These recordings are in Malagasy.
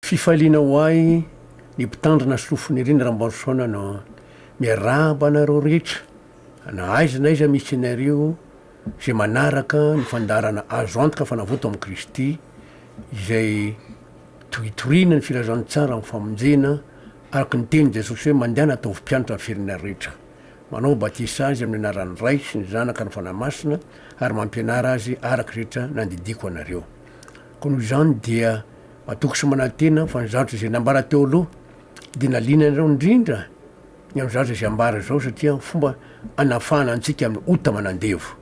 Fifaliana ho ahy ny mpitandrina sy lofoniriny Rambarisoana no miarahaba anareo rehetra na aiza na aiza misy anareo izay manaraka ny fandaharana azo antoka fa navoto amin'i Kristy izay toritoriana ny filazantsara amin'ny famonjena araka ny tenin'i Jesosy hoe mandehana ataovy mpianatra ny firenena rehetra manao batisa azy amin'ny anaran'ny Ray sy ny Zanaka ary ny Fanahy Masina ary mampianara azy araka izay rehetra nandidiako anareo koa noho izany dia Matoky sy manantena aho fa ny zavatra izay nambara teo aloha dia naliana anareo indrindra ny amin'ny zavatra izay ambara izao satria fomba hanafahana antsika amin'ny ota manandevo.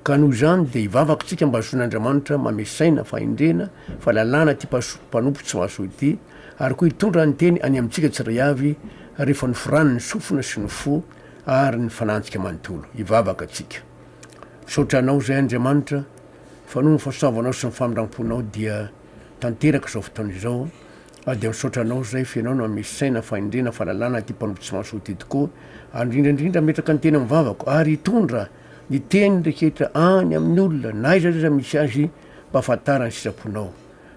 Ka noho izany dia hivavaka isika mba hazoan'Andriamanitra mame saina, fahendrena, fahalalana ity mpanompo tsy mahasoa ity ary koa hitondra ny teny any amintsika tsirairay avy rehefa noforany ny sofina sy ny fo ary ny fanantsika manontolo. Hivavaka isika. Misaotra Anao izay Andriamanitra fa noho ny fahasoavanao sy ny famindramponao dia. tanteraka izao fotoana izao aho dia misaotra anao izay f'enao no amisy saina fahendrena fahalalana ity mpanompy tsy mahasoa ity tokoa ary indrindra indrindra ametraka ny teny amin'ny vavako ary hitondra ny teny rehetra any amin'ny olona na iza iza misy azy mba ahafantarany sitraponao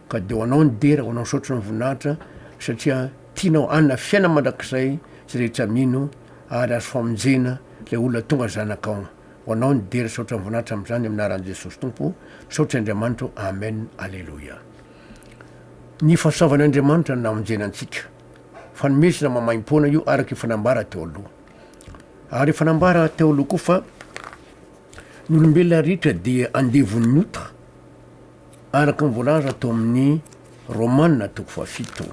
ka dia ho anao ny dera ho anao ny saotra ny voninahitra satria tianao anna fiaina mandrakizay izay rehetra mino ary azo famonjena ilay olona tonga zanakao ho anao ny dery saotra mivonatra amzany amin aran jesosy tompo saotra andriamanitro amen aleloia ny fasaovan andriamanitra ny namonjena antsika fanomezana mamaimpoana io araka efa nambara teo aloha ary efa nambara teo aloha koa fa ny olombelona rehetra dia andevon'ny ota araka ny voalaza tao amin'ny romana toko fahafito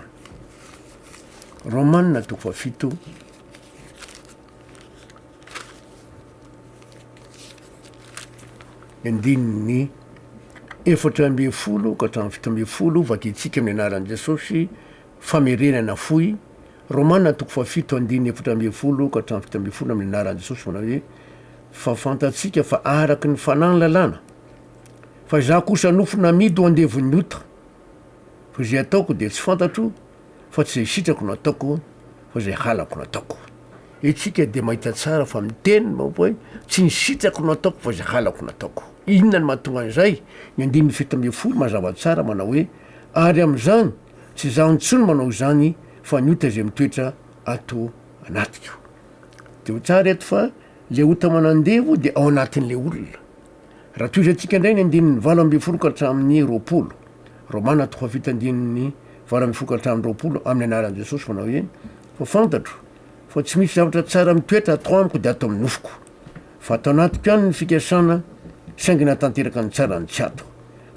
romana toko fahafito Andininy efatra ambin'ny folo ka hatramin'ny fito ambin'ny folo, Vadiantsika amin'ny anaran'i Jesosy, famerenana fohy, Romana toko fahafito andininy efatra ambin'ny folo ka hatramin'ny fito ambin'ny folo amin'ny anaran'i Jesosy manao hoe fa fantatsika fa araka ny fanahy ny lalàna fa izaho kosa nofo namidy ho andevon'ny ota fa izay ataoko dia tsy fantatro fa tsy izay sitrako no ataoko fa izay halako no ataoko. Isika dia mahita tsara fa miteny ny vahoaka hoe tsy ny sitrako no ataoko fa izay halako no ataoko. Inona no mahatonga an'izay? Ny andininy fito ambin'ny folo mazava tsara manao hoe, Ary amin'izany, tsy izaho intsony manao izany fa ny ota izay mitoetra ato anatiko. Dia ho tsara eto fa ilay ota manandevo dia ao anatin'ilay olona. Raha tohizantsika indray ny andininy valo ambin'ny folo ka hatramin'ny roapolo, Romana toko fahavita andininy valo ambin'ny folo ka hatramin'ny roapolo, amin'ny anaran'i Jesosy manao hoe, Fa fantatro fa tsy misy zavatra tsara mitoetra ato amiko dia ato amin'ny nofoko, fa ato anatiko ihany ny fikasana, saingy na tanteraka ny tsara no tsy ato,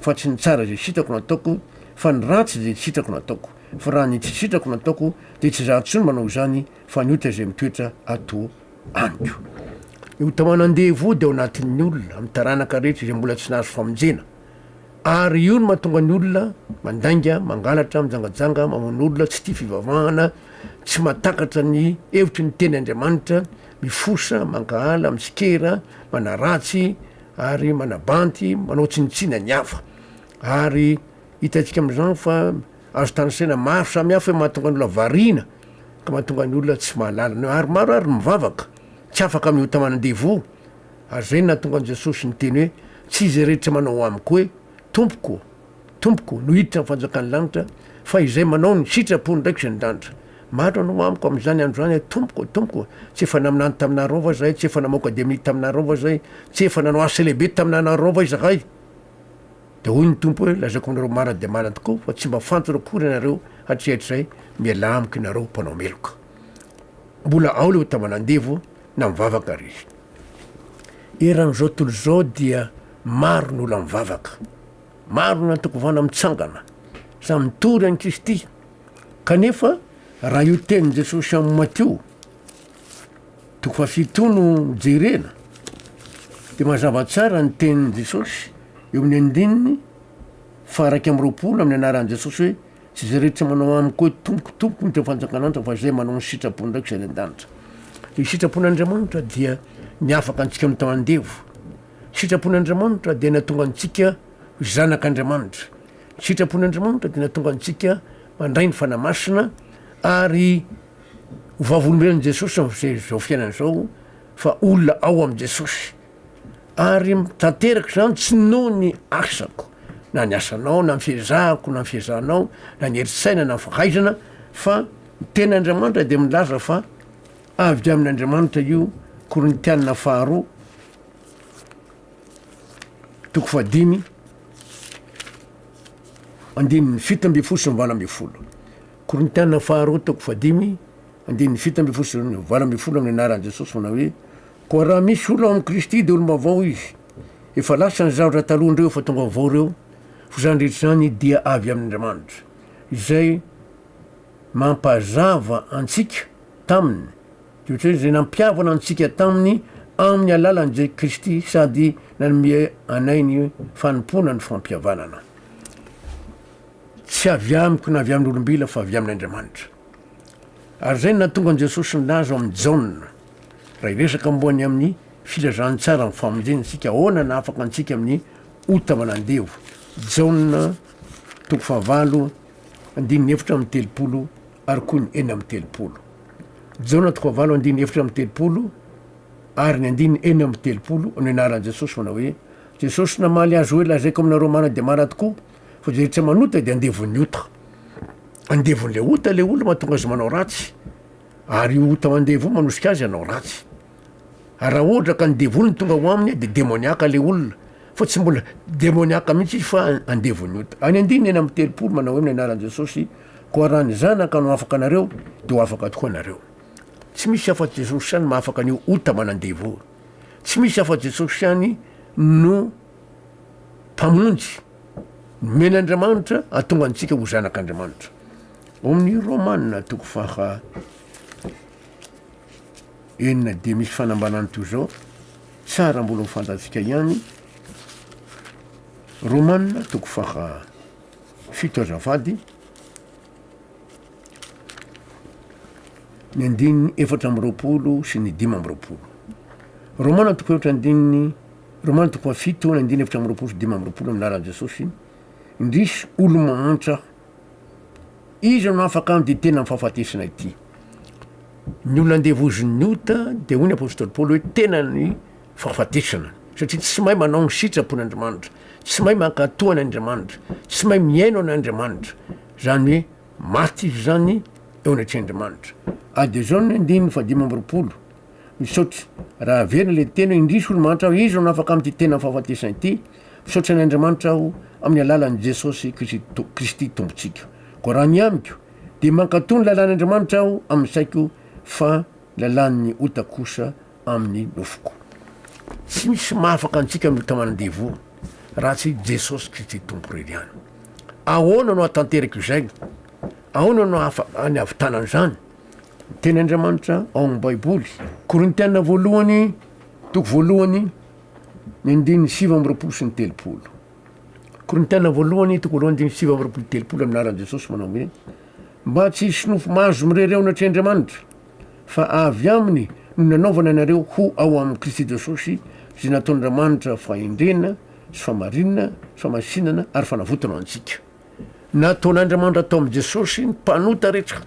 fa tsy ny tsara izay sitrako no ataoko, fa ny ratsy izay tsy sitrako no ataoko, fa raha ny tsy sitrako no ataoko dia tsy izaho intsony manao izany, fa ny ota izay mitoetra ato amiko. Io taona andevo io dia ao anatin'ny olona, amin'ny taranaka rehetra izay mbola tsy nahazo famonjena. Ary io no mahatonga ny olona mandainga, mangalatra, mijangajanga, mamono olona, tsy tia fivavahana, tsy mahatakatra ny hevitry ny teny Andriamanitra, mifosa, mankahala, mitsikera, manaratsy ary manabanty, manao tsinontsinona ny hafa. Ary hitantsika amin'izany fa. Azo tanisaina maro samihafa hoe mahatonga ny olona variana ka mahatonga ny olona tsy mahalala ny hoe ary maro ary ny mivavaka tsy afaka amin'ny ota manan-devoho ary izay no nahatonga an'i Jesosy niteny hoe tsy izay rehetra manao amiko hoe Tompoko, Tompoko no hiditra amin'ny fanjakan'ny lanitra fa izay manao ny sitrapony ndraiky izay nidanitra. Maro nanao amiko amin'izany andro izany hoe Tompoko, Tompoko, tsy efa naminany taminareo va izahay, tsy efa namaoka demony taminareo va izahay, tsy efa nanao asa lehibe taminanareo va izahay? Dia hoy ny Tompo hoe, Lazaiko anareo marina dia marina tokoa fa tsy mba fantatra akory ianareo hatrizay-hatrizay, mialà amiko ianareo mpanao meloka. Mbola ao ilay ho taman'andevo na mivavaka àry izy. Eran'izao tontolo izao dia maro ny olona mivavaka, maro ny antokovana mitsangana, samy mitory an'i Kristy, kanefa raha io tenin'i Jesosy amin'i Matio Toko fahafito no jerena de mazava tsara ny tenin'i Jesosy eo amin'ny andininy faha-iraika amby roapolo amin'ny anaran'i Jesosy hoe tsy izay rehetra manao amiko hoe tompoko tompoko no teo fanjakan'Anitra fa izay manao ny sitrapony ndraiky izay any an-danitra. Ny sitrapon'Andriamanitra dia ny afaka antsika amin'ny tao andevo. Sitrapon'Andriamanitra dia natonga antsika ho zanak'Andriamanitra. Sitrapon'Andriamanitra dia natonga antsika mandray ny fanahy masina ary Ho vavolombelon'i Jesosy amin'izao izao fiainana izao fa olona ao amin'i Jesosy ary tanteraka izany tsy noho ny asako na ny asanao na ny fiezahako na ny fiezahanao na ny herin-tsaina na ny fahaizana fa ny tenin'Andriamanitra dia milaza fa avy amin'Andriamanitra io Korintiana faharoa toko fahadimy andininy fito ambin'ny folo sy ny valo ambin'ny folo Korintiana faharoa toko fahadimy, andininy fito ambin'ny folo sy valo ambin'ny folo Ny anaran'i Jesosy manao hoe, Koa raha misy olona ao amin'i Kristy dia olom-baovao izy, efa lasa ny zavatra taloha indreo efa tonga vaovao ireo, fa izany rehetra izany dia avy amin'Andriamanitra, izay mampazava antsika taminy, dia ohatran'ny hoe izay nampihavana antsika taminy amin'ny alalan'i Jesosy Kristy sady nanome anay ny fanompoana ny fampihavanana. Tsy avy amiko na avy amin'olombila fa avy amin'Andriamanitra. Ary izay no nahatonga an'i Jesosy nilaza ao amin'ny Jaona, raha hiresaka momba ny amin'ny filazantsara amin'ny famonjena isika, ahoana no hahafaka antsika amin'ny ota manandevo. Jaona toko fahavalo andininy efatra amby telopolo ary koa ny enina amby telopolo. Jaona toko fahavalo andininy efatra amby telopolo ary ny andininy enina amby telopolo no ianaran'i Jesosy manao hoe, Jesosy namaly azy hoe, lazaiko aminareo marina dia marina tokoa, fa zay tsy manota de andevon'ny ota, andevon'le ota le olona mahatonga azy manao ratsy, ary io ota mandevo io manosika azy hanao ratsy, ary raha ohatra ka ny devoly no tonga ho aminy de demoniaka le olona, fa tsy mbola demoniaka mihitsy izy fa andevon'ny ota. Any andininy enina amby telopolo manao hoe ny anaran'i Jesosy, koa raha ny Zanaka no afaka anareo de ho afaka tokoa nareo. Tsy misy afa-tsy Jesosy ihany mahafaka an'io ota manandevo io, tsy misy afa-tsy Jesosy ihany no Mpamonjy, nomen'Andriamanitra hahatonga antsika ho zanak'Andriamanitra. Ao amin'ny Romana toko faha enina dia misy fanambanany toy izao, tsara mbola ho fantatsika ihany, Romana toko faha fito azafady, ny andininy efatra amby roapolo sy ny dimy amby roapolo. Romana toko efatra andininy Romano toko fahafito tohana ny andininy efatra amby roapolo sy dimy amby roapolo amin'ny lalan'i Jesosy, Indrisy, olo-mahantra aho, iza no afaka handidy tena amin'ny fahafatesana ity? Ny olona andevozin'ny ota dia hoy ny apostoly Paoly hoe tena ny fahafatesana, satria tsy mahay manao ny sitrapon'Andriamanitra, tsy mahay mankato an'Andriamanitra, tsy mahay mihaino an'Andriamanitra, izany hoe maty izy izany eo anatrehan'Andriamanitra. Adihizao ny andininy fahadimy amby roapolo. Misaotra. Raha averina le teny hoe indrisy olo mahantra aho iza no afaka amty tena fahafatesana ity? Misaotra an' Andriamanitra aho amin'ny alalan'i Jesosy Kristy Tompontsika. Koa raha ny amiko dia mankatò ny lalàn' Andriamanitra aho amin'ny saiko fa ny lalàn'ny ota kosa amin'ny nofoko. Tsy misy mahafaka antsika amin'ny ota aman-devoly raha tsy i Jesosy Kristy Tompo irery ihany. Ahoana no ahatanterako izay? Ahoana no ahafahan'ny havitanana izany? Teny Andriamanitra ao amin'ny Baiboly. Korintiana voalohany, toko voalohany, ny andininy sivy amby roapolo sy ny telopolo. Korintiana voalohany, toko voalohany, andininy sivy amby roapolo sy telopolo amin'ny anaran'i Jesosy manao hoe mba tsy hisy nofo mahazo mirereona atr'i Andriamanitra, fa avy aminy no nanaovana anareo ho ao amin'i Kristy Jesosy izay nataon'Andriamanitra fahendrena sy famarinana sy famasinana ary fanavotana ho antsika. Nataon'Andriamanitra tao amin'i Jesosy ny mpanota rehetra,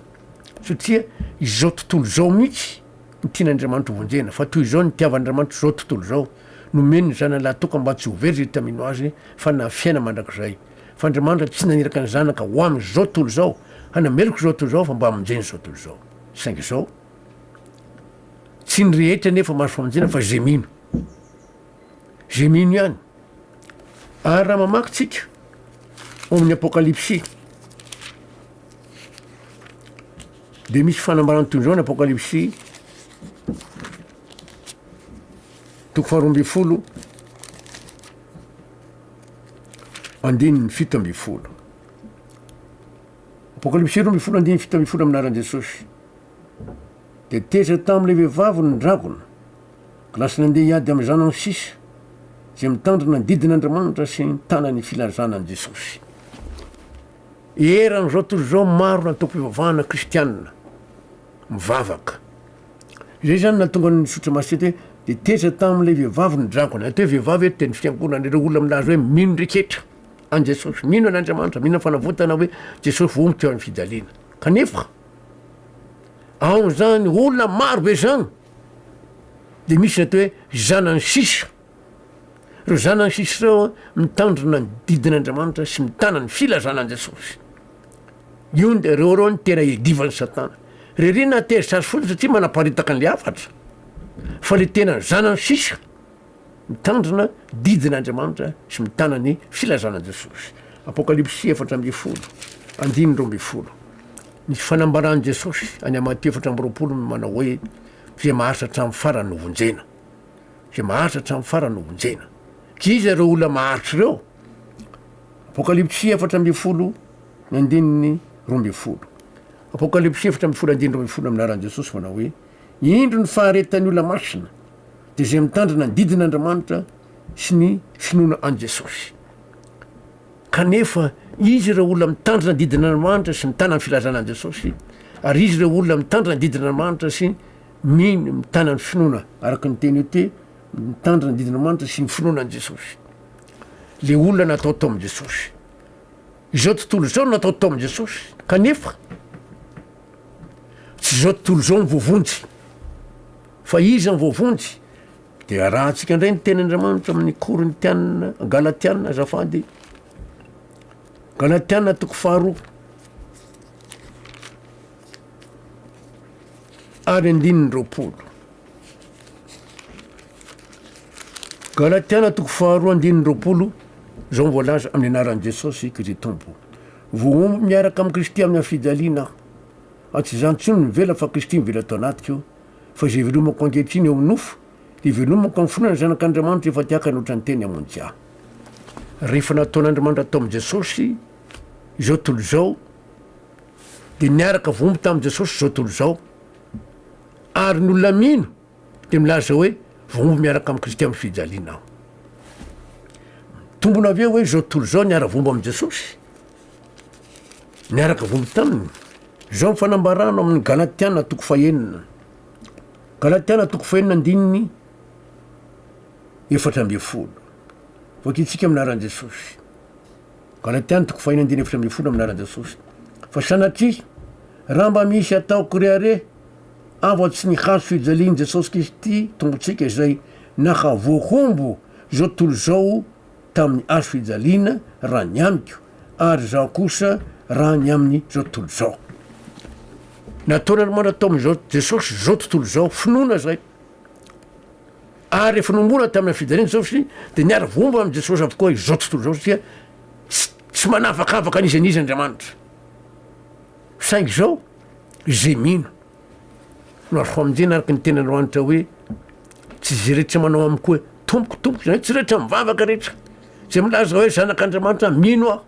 satria izao tontolo izao mihitsy no tian'Andriamanitra ho vonjena, fa toy izao no nitiavan'Andriamanitra izao tontolo izao, nomeny ny Zanany lahitoka mba tsy ho very izay tamino Azy, fa hanana fiainana mandrakizay. Fa Andriamanitra tsy naniraka ny Zanaka ho amin'izao tontolo izao, hanameloka izao tontolo izao, fa mba hamonjena izao tontolo izao. Saingy izao, tsy ny rehetra anefa mahazo famonjena, fa izay mino. izay mino ihany. Ary raha mamaky tsika ao amin'ny Apokalypsy, dia misy fanambarana toy izao ny Apokalypsy toko faharoa ambin'ny folo andininy fito ambin'ny folo. Apokalypsy roa ambin'ny folo andininy fito ambin'ny folo amin'ny anaran'i Jesosy. Dia tezitra tamin'ilay vehivavy ny dragona. Lasa nandeha hiady amin'izany aho sisa, izay mitandrina ny didin'Andriamanitra sy mitana ny filazana an'i Jesosy. Eran'izao tontolo izao, maro ny antokom-pivavahana kristiana mivavaka. Izay izany nahatonga ny Zotra Masina eto hoe, Dia teza tamin'ilay vehivavy ny dragona. Eto hoe vehivavy eto dia ny fiangonana, ireo olona milaza hoe mino reketra an'i Jesosy, mino an'Andriamanitra, mino ny fanavotana hoe Jesosy voa mitoeran'ny fijaliana. Kanefa, ao amin'izany olona maro be izany, Dia misy ireto hoe zanany sisa. Ireo zanany sisa ireo an, mitandrina ny didin'Andriamanitra sy mitana ny filazana an'i Jesosy. Io ny ireo ireo ny tena iadivan'i Satana. Ririana tery sazy fotsiny satria manaparitaka ny hafatra. Fa le tena zanany sisa. mitandrina didin' Andriamanitra sy mitana ny filazana Jesosy, Apokalypsy efatra ambin'ny folo, andininy roa ambin'ny folo. Ny fanambaran' Jesosy any amin'ny Matio efatra amby roapolo no manao hoe, Izay maharitra hatramin'ny farany no vonjena. Izay maharitra hatramin'ny farany no vonjena. Tsy iza ireo olona maharitra ireo? Apokalypsy efatra ambin'ny folo ny andininy roa ambin'ny folo. Apokalypsy efatra ambin'ny folo andininy roa ambin'ny folo amin'ny anaran'i Jesosy manao hoe, Indro ny faharetan'ny olona masina, dia izay mitandrina ny didin' Andriamanitra sy ny finoana an'i Jesosy. Kanefa, izy ireo olona mitandrina ny didin' Andriamanitra sy mitana ny filazana an'i Jesosy, ary izy ireo olona mitandrina ny didin' Andriamanitra sy mino, mitana ny finoana, araka ny teny ete, mitandrina ny didin' Andriamanitra sy ny finoana an'i Jesosy. Le olona natao tao amin'i Jesosy. Izao tontolo izao no natao tao amin'i Jesosy. Kanefa, Tsy zao tontolo izao ny voavonjy. Fa iza ny voavonjy? Dia arahantsika indray ny tenin'Andriamanitra amin'ny Korintiana, Galatiana azafady. Galatiana toko faharoa. Ary andininy roapolo. Galatiana toko faharoa andininy roapolo, izao voalaza amin'ny anaran'i Jesosy Kristy Tompo. Voahombo miaraka amin'i Kristy amin'ny hafijaliana aho. Fa tsy izaho intsony no mivela fa Kristy mivela ato anatiko. Fa izay ivelomako ankehitriny eo amin'ny nofo, dia ivelomako amin'ny finoana ny Zanak'Andriamanitra efa te haka ny ohatran'ny teny hamonjy ahy. Rehefa nataon'Andriamanitra tao amin'i Jesosy izao tontolo izao, dia niaraka voahombo tamin'i Jesosy izao tontolo izao. Ary ny olona mino dia milaza hoe voaomby miaraka amin'i Kristy amin'ny fijaliana aho. Mitombona avy eo hoe izao tontolo izao niara-vomba amin'i Jesosy, miaraka vomby taminy. Izao ny fanambarana amin'ny Galatiana toko fahenina. Galatiana toko fahenina andininy efatra ambin'ny folo. Voakintsika amin'ny anaran'i Jesosy. Galatiana toko fahenina andininy efatra ambin'ny folo amin'ny anaran'i Jesosy. Fa sanatria, raha mba misy ataoko rehareha, Avo tsy ny hazo fijalian'i Jesosy Kristy Tompontsika izay nahavoahombo izao tontolo izao tamin'ny hazo fijaliana raha ny amiko ary izaho kosa raha ny amin'izao tontolo izao. Nataon'Andriamanitra tao amin'izao Jesosy izao tontolo izao finoana izay. Ary rehefa nohomboana tamina fijaliana Jesosy dia niara voahombo amin'i Jesosy avokoa izao tontolo izao satria tsy manavakavaka an'iza n'iza Andriamanitra. Saingy izao, izay mino, no azo famonjena araka ny teny Androanitra hoe, Tsy izay rehetra manao amiko hoe, Tompoko, Tompoko, izany hoe tsy rehetra mivavaka rehetra, izay milaza hoe zanak'Andriamanitra, mino aho,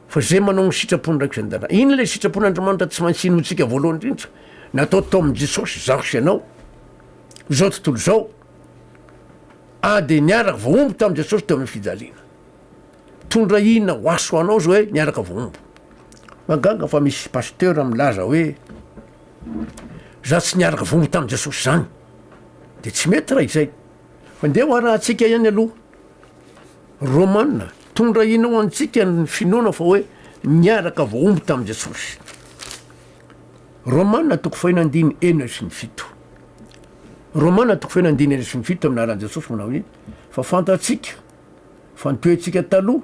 fa izay manao ny sitrapon'ny Raiko izay an-danitra. Inona ilay sitrapon'Andriamanitra tsy maintsy inoantsika voalohany indrindra? Natao tao amin'i Jesosy izaho sy ianao, izao tontolo izao, ady niaraka voahombo tamin'i Jesosy teo amin'ny fijaliana. Mitondra inona ho aso ho anao zao hoe miaraka voahombo? Mahagaga fa misy pasteur milaza hoe za tsy niaraka voahombo tamin'i Jesosy zany. De tsy mety raha izay. Fa ndeha ho arahantsika ihany aloha. Romana, mitondra inona ho antsika ny finoana fa hoe niaraka voahombo tamin'i Jesosy? Romana toko fahina andiny enina sy ny fito. Romana toko fahina andiny enina sy ny fito amin'ny anaran'i Jesosy manao hoe fa fantatsika Fa ny toetsika taloha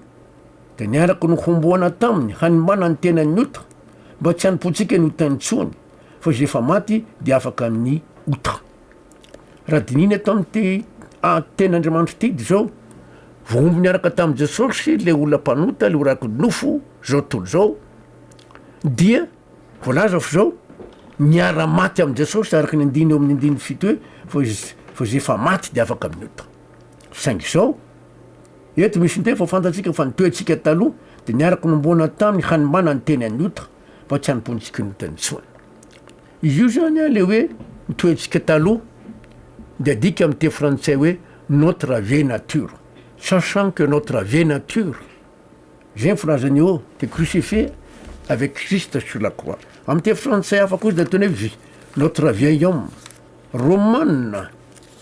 dia niaraka nohomboana taminy hanimbana ny tenan'ny ota mba tsy hanompoantsika ny ota intsony fa izay efa maty dia afaka amin'ny ota. Raha dinihina eto amin'ity ah, tenin'Andriamanitra ity dia izao, voahombo niaraka tamin'i Jesosy ilay olona mpanota, ilay oraky nofo izao tontolo izao, dia voalaza fa izao, niara-maty amin'i Jesosy araka ny andiny eo amin'ny andininy fito hoe fa izay efa maty dia afaka amin'ny ota. Saingy izao, eto misy indray fa fantatsika fa ny toetsika taloha dia niaraka nomboana tamin'ny hanimbana ny teny an'ota fa tsy hanompoantsikin'ota intsony. Izy io izany an, ilay hoe ny toetsika taloha dia adika amin'ny teny frantsay hoe notre vieille nature, sachant que notre vieille nature izay ny filazany eo dia crucifiée avec Christ sur la croix. Amin'ny teny frantsay hafa kosa dia ataony hoe notre vieil homme, Romana,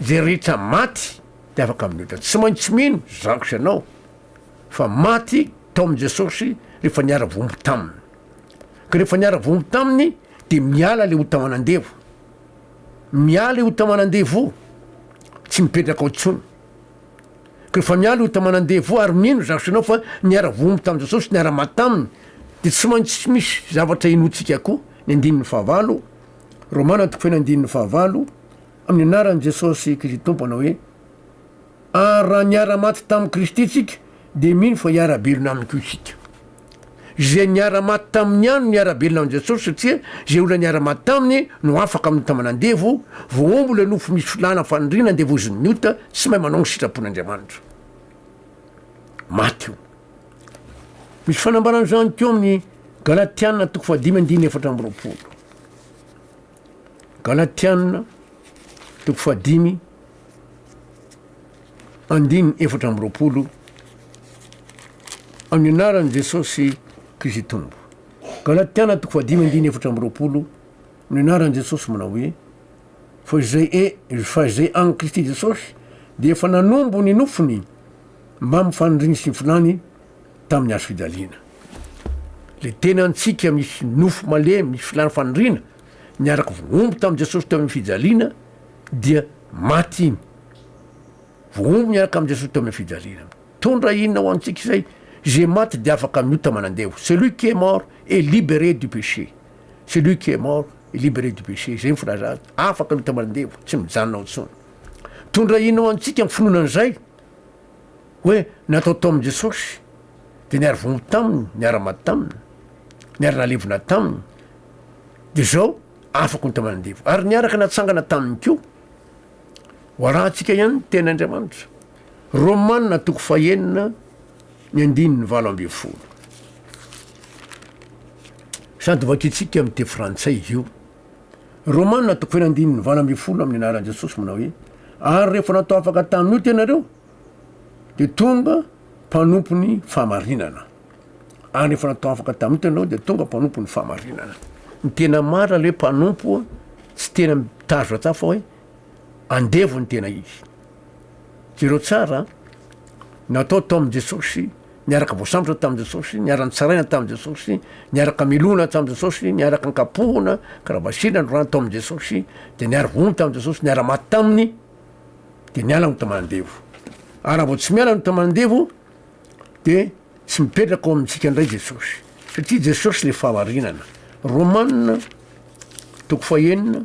Izay rehetra maty dia afaka miotra. Tsy maintsy mino zako sy ianao fa maty tao amin'i Jesosy rehefa niara-voambo taminy. Ka rehefa niara-voambo taminy dia miala ilay ota aman'andevo. Miala i ota aman'andevo, tsy mipetraka ao intsony. Ka rehefa miala i ota aman'andevo ary mino zako sy ianao fa niara-voambo tamin'i Jesosy, niara-maty taminy, dia tsy maintsy misy zavatra inoantsika koa ny andininy fahavalo, Romana toko feno andininy fahavalo, Amin'ny anaran'i Jesosy Kristy Tompo anao hoe, Ary raha niara-maty tamin'i Kristy tsika, dia mino fa hiara-belona aminy koa isika. Izay niara-maty taminy ihany no niara-belona amin'i Jesosy satria izay olona niara-maty taminy no afaka mitamana andevo, voaombo ilay nofo misy filàna faniriana andevozin'ny ota tsy mahay manao ny sitrapon'Andriamanitra. Maty io. Misy fanambarana izany teo amin'ny Galatiana toko fahadimy andiny efatra amby roapolo. Galatiana toko fahadimy andiny efatra amby roapolo amin'ny anaran'i Jesosy Kristy Tompo. Galatiana toko fahadimy andiny efatra amby roapolo amin'ny anaran'i Jesosy manao hoe fa izay e fa izay an'i Kristy Jesosy dia efa nanombo ny nofony Mba ny fanondrin'ny sinfilany tamin'ny hazo fijaliana. Ilay tena antsika misy nofo malemy, misy filàn'ny fanondriana, niaraka vohombo tamin'i Jesosy teo amin'ny fijaliana, dia maty iny. Vohombo niaraka amin'i Jesosy teo amin'ny fijaliana. Mitondra inona ho antsika izay? Izay maty dia afaka miota manandevo. Celui qui est mort est libéré du péché. Celui qui est mort est libéré du péché. Izay ny filazana. Afaka miota manandevo, tsy mijanona ao intsony. Mitondra inona ho antsika ny finoana an'izay? Hoe natao tao amin'i Jesosy, dia niara-vonoa taminy, niara-maty taminy, niara-nalevina taminy, dia izao afaka ho taman'andevo. Ary niaraka natsangana taminy koa. Ho arahantsika ihany ny tena Andriamanitra. Romanina toko fahenina, ny andininy valo ambin'ny folo. Sady vakintsika amin'ny teny frantsay io. Romana toko fahenina andininy valo ambin'ny folo amin'ny anaran'i Jesosy manao hoe ary rehefa natao afaka tamin'ny ota ianareo dia tonga mpanompon'ny fahamarinana ary rehefa natao afaka tamin'ny ota ianareo dia tonga mpanompon'ny fahamarinana ny tena marina le mpanompo tsy tena mitazona tsafa hoe andevo ny tena izy. Jereo tsara an! Natao tao amin'i Jesosy, niaraka voasambotra tamin'i Jesosy, niara-nitsaraina tamin'i Jesosy, niaraka milona tamin'i Jesosy, niaraka nkapohina, kravasina, norano tao amin'i Jesosy, dia niara vono tamin'i Jesosy, niara maty taminy, dia niala ny tamandevo. Ary raha vao tsy miala ny tamandevo, dia tsy mipetraka ao amintsika indray Jesosy. Satria Jesosy le fahamarinana. Romanina, toko fahenina,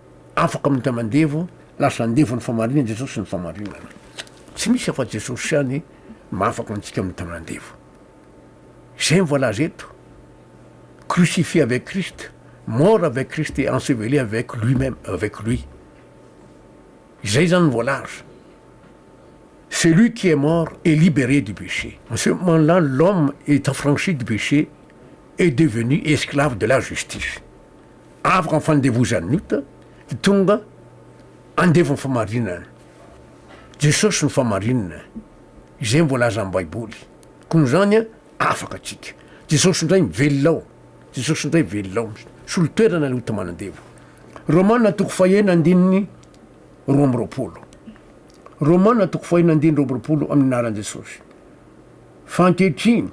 Afaka mita mandevo, lasa andevo ny famarinana Jesosy ny famarinana. Tsy misy afa Jesosy ihany mahafaka antsika mita mandevo. Izay ny voalaza eto. Crucifié avec Christ, mort avec Christ et enseveli avec lui-même, avec lui. Izay zany ny voalaza. C'est lui qui est mort et libéré du péché. En ce moment-là, l'homme est affranchi du péché et devenu esclave de la justice. Avoka ny fandevozan'ny ota, dia tonga andevo ny famarinana. Jesosy no famarinana, izay no voalazan'ny Baiboly. Koa noho izany, afaka tsika. Jesosy indray no velona ao. Jesosy indray velona ao. Misolo toerana ilay ota manandevo. Romana toko fahenina andininy roa amby roapolo. Romana toko fahenina andininy roa amby roapolo, amin'ny anaran'i Jesosy. Fa ankehitriny,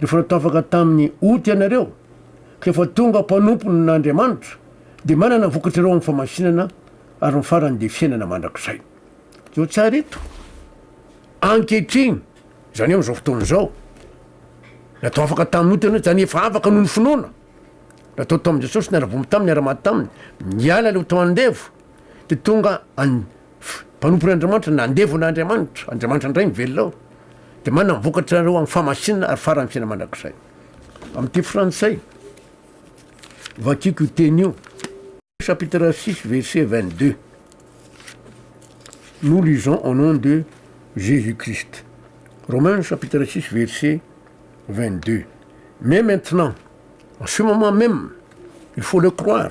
rehefa natafaka tamin'ny ota ianareo, ka efa tonga mpanompon'Andriamanitra, dia manana ny vokatrareo amin'ny famasinana, ary ny farany dia fiainana mandrakizay. Jereo tsara eto. Ankehitriny, izany hoe amin'izao fotoana izao. Natafaka tamin'ny ota ianareo, izany hoe efa afaka noho ny finoana. Natao tamin'i Jesosy, niara-bomy Taminy, niara-maty Taminy, niala ilay ota andevo, dia tonga any. mpanompon'Andriamanitra, na andevo na Andriamanitra, Andriamanitra indray ny velona ao, dia manana ny vokatra anareo amin'ny fahamasinana ary faran'ny fiainana mandrakizay. Amin'ity frantsay, vakiako io teny io, chapitre 6 verset 22. Nous lisons au nom de Jésus-Christ. Romains chapitre 6 verset 22. Mais maintenant, en ce moment même, il faut le croire,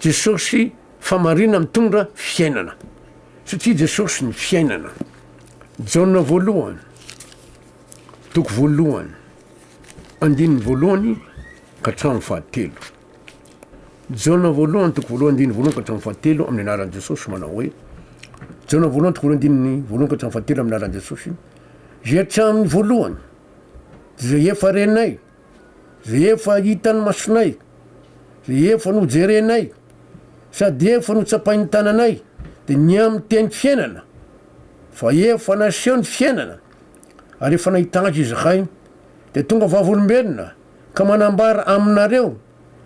Jesosy famarina mitondra fiainana satria Jesosy ny fiainana. Jaona voalohany toko voalohany andininy voalohany ka hatramin'ny fahatelo. Jaona voalohany toko voalohany andininy voalohany ka hatramin'ny fahatelo amin'ny anaran'i Jesosy manao hoe Jaona voalohany toko voalohany andininy voalohany ka hatramin'ny fahatelo amin'ny anaran'i Jesosy. Izay hatramin'ny voalohany izay efa renay Rehefa hitan'ny masonay, rehefa nojerenay, sady efa notsapain'ny tananay, dia ny amin'ny teny fiainana, fa efa naseho ny fiainana, ary efa nahita Azy izahay, dia tonga vavolombelona, ka manambara aminareo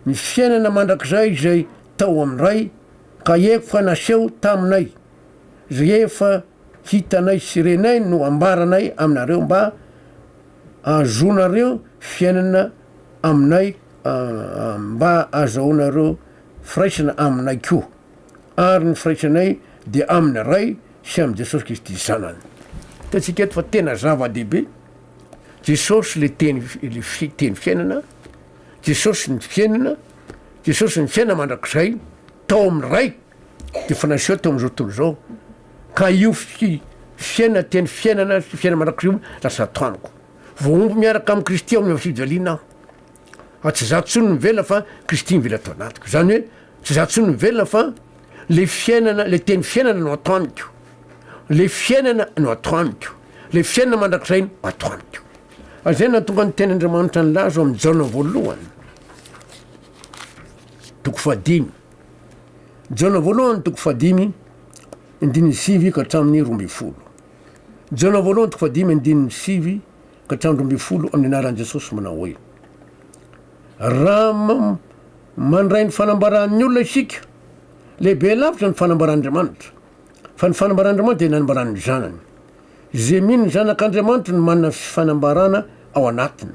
ny fiainana mandrakizay izay tao amin'ny Ray, ka efa naseho taminay. rehefa hitanay sy renay no ambaranay aminareo mba ahazoanareo fiainana aminay mba azahoanareo firaisana aminay koa ary ny firaisanay dia amin'ny Ray sy amin'i Jesosy Kristy Zanany. Hitantsika eto fa tena zava-dehibe, Jesosy le teny le teny fiainana, Jesosy ny fiainana, Jesosy ny fiainana mandrakizay tao amin'ny Ray. efa naseho tao amin'izao tontolo izao ka io fi, fiaina, teny fiainana sy fiaina mandrakizay io lasa atao amiko. Voahombo miaraka amin'i Kristy ao amin'ny fifaliana aho. Fa tsy izaho intsony no mivelona fa Kristy mivelona ato anatiko. Izany hoe tsy izaho intsony no mivelona fa le fiainana, le teny fiainana no atao amiko. Le fiainana no atao amiko. Le fiainana mandrakizay no atao amiko. Ary izay nahatonga ny tenin'Andriamanitra nilaza ao amin'ny Jaona voalohany, toko fahadimy. Jaona voalohany toko fahadimy andininy sivy ka hatramin'ny roa ambin'ny folo. Jaona voalohany toko fahadimy andininy sivy ka hatramin'ny roa ambin'ny folo amin'ny anaran'i Jesosy manao hoe raha mandray ny fanambaran'ny olona isika, lehibe lavitra ny fanambaran'Andriamanitra. Fa ny fanambaran'Andriamanitra dia nanambaran'ny Zanany. Izay mino ny Zanak'Andriamanitra no manana fanambarana ao anatiny.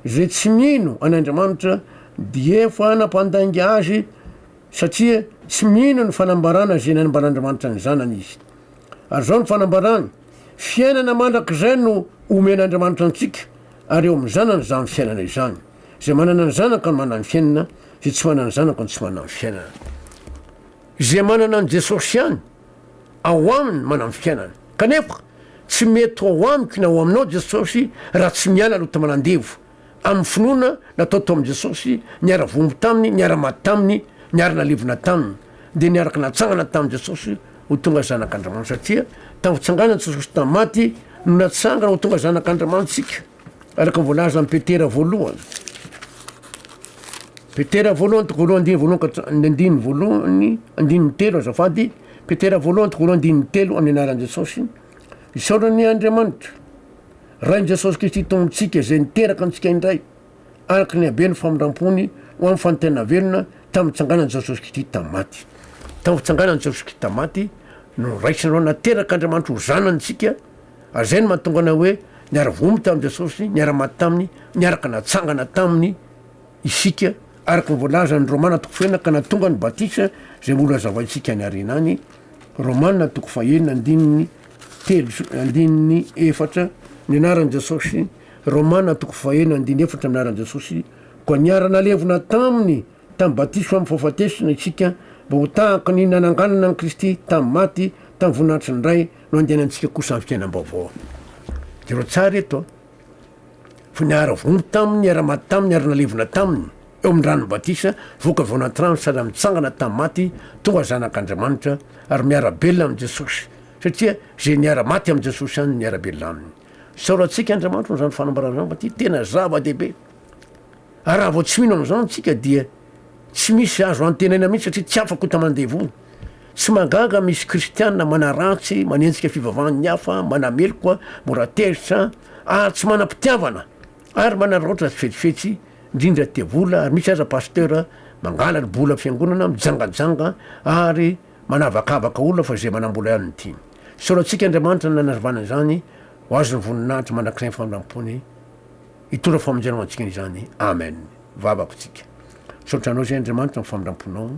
Izay tsy mino an'Andriamanitra dia efa nampandainga azy satria tsy mino ny fanambarana izay nanambaran'Andriamanitra ny Zanany izy. Ary izao ny fanambarany, fiainana mandrakizay no omen'Andriamanitra antsika ary eo amin'ny Zanany izany fiainana izany. Izay manana ny Zanaka no manana ny fiainana, izay tsy manana ny Zanaka no tsy manana ny fiainana. Izay manana an'i Jesosy ihany ao aminy manam fiainana. Kanefa tsy mety ho ao amiko na ao aminao Jesosy raha tsy miala aloha ta manandevo amin'ny finoana natao tao amin'i Jesosy, niara vohombo taminy, niara maty taminy, niara nalevina taminy, dia niaraka natsangana tamin'i Jesosy ho tonga zanak'Andriamanitra satria tamin'ny fitsanganan'i Jesosy tamin'ny maty no natsangana ho tonga zanak'Andriamanitsika. Araka ny voalazan'i Petera voalohany, Petera voalohany toko voalohany andininy voalohany ka ny andininy voalohany andininy telo azafady Petera voalohany toko voalohany andininy telo amin'ny anaran'i Jesosy isaorana ny Andriamanitra Rain'i Jesosy Kristy Tompon-tsika izay niteraka antsika indray araka ny habeny famindram-pony ho amin'ny fanontena velona tamin'ny tsanganan'i Jesosy Kristy tamin'ny maty tamin'ny fitsanganan'i Jesosy Kristy tamin'ny maty no raisin'ireo nateraka Andriamanitra ho zanantsika Ary izay no mahatonga anay hoe niara-voaomby tamin'i Jesosy, niara-maty taminy, niaraka natsangana taminy isika, araka ny voalazan'ny Romana toko fahenina, ka nahatonga ny batisa izay mbola hazavaintsika any aoriana any, Romana toko fahenina andininy telo sy andininy efatra, ny anaran'i Jesosy, Romana toko fahenina andininy efatra, ny anaran'i Jesosy, koa niara-nalevina taminy, Tamin'ny batisa amin'ny fahafatesana isika mba ho tahaka ny nananganana an'i Kristy tamin'ny maty tamin'ny voninahitry ny Ray no andehanantsika kosa amin'ny fiainam-baovao. Jereo tsara eto fa niara-vono taminy, niara-maty taminy ary nalevina taminy eo amin'ny ranon'ny batisa, voaka avy ao anaty rano sady nitsangana tamin'ny maty tonga zanak'Andriamanitra ary miara-belona amin'i Jesosy satria izay niara-maty amin'i Jesosy ihany no miara-belona aminy. Isaorantsika Andriamanitra noho izany fanambarana izany fa ity tena zava-dehibe. Ary raha vao tsy mino amin'izao antsika dia tsy misy azo antenaina mihitsy satria tsy afa-kota mandevona. Tsy mahagaga misy kristiana manaratsy, manenjika fivavahan'ny hafa, manameloka, mora tezitra, ary tsy manam-pitiavana, ary manararaotra sy fetsifetsy, indrindra tia vola, ary misy aza pasteur mangalany bola fiangonana, mijangajanga, ary manavakavaka olona fa izay manam-bola ihany no tiany. Soratsika Andriamanitra nanazavana izany ho azy ny voninahitra mandrakizay ny famindram-pony. Hitondra famonjena ho antsika izany. Amen. Vavako tsika. Misaotra anao izay Andriamanitra amin'ny famindramponao.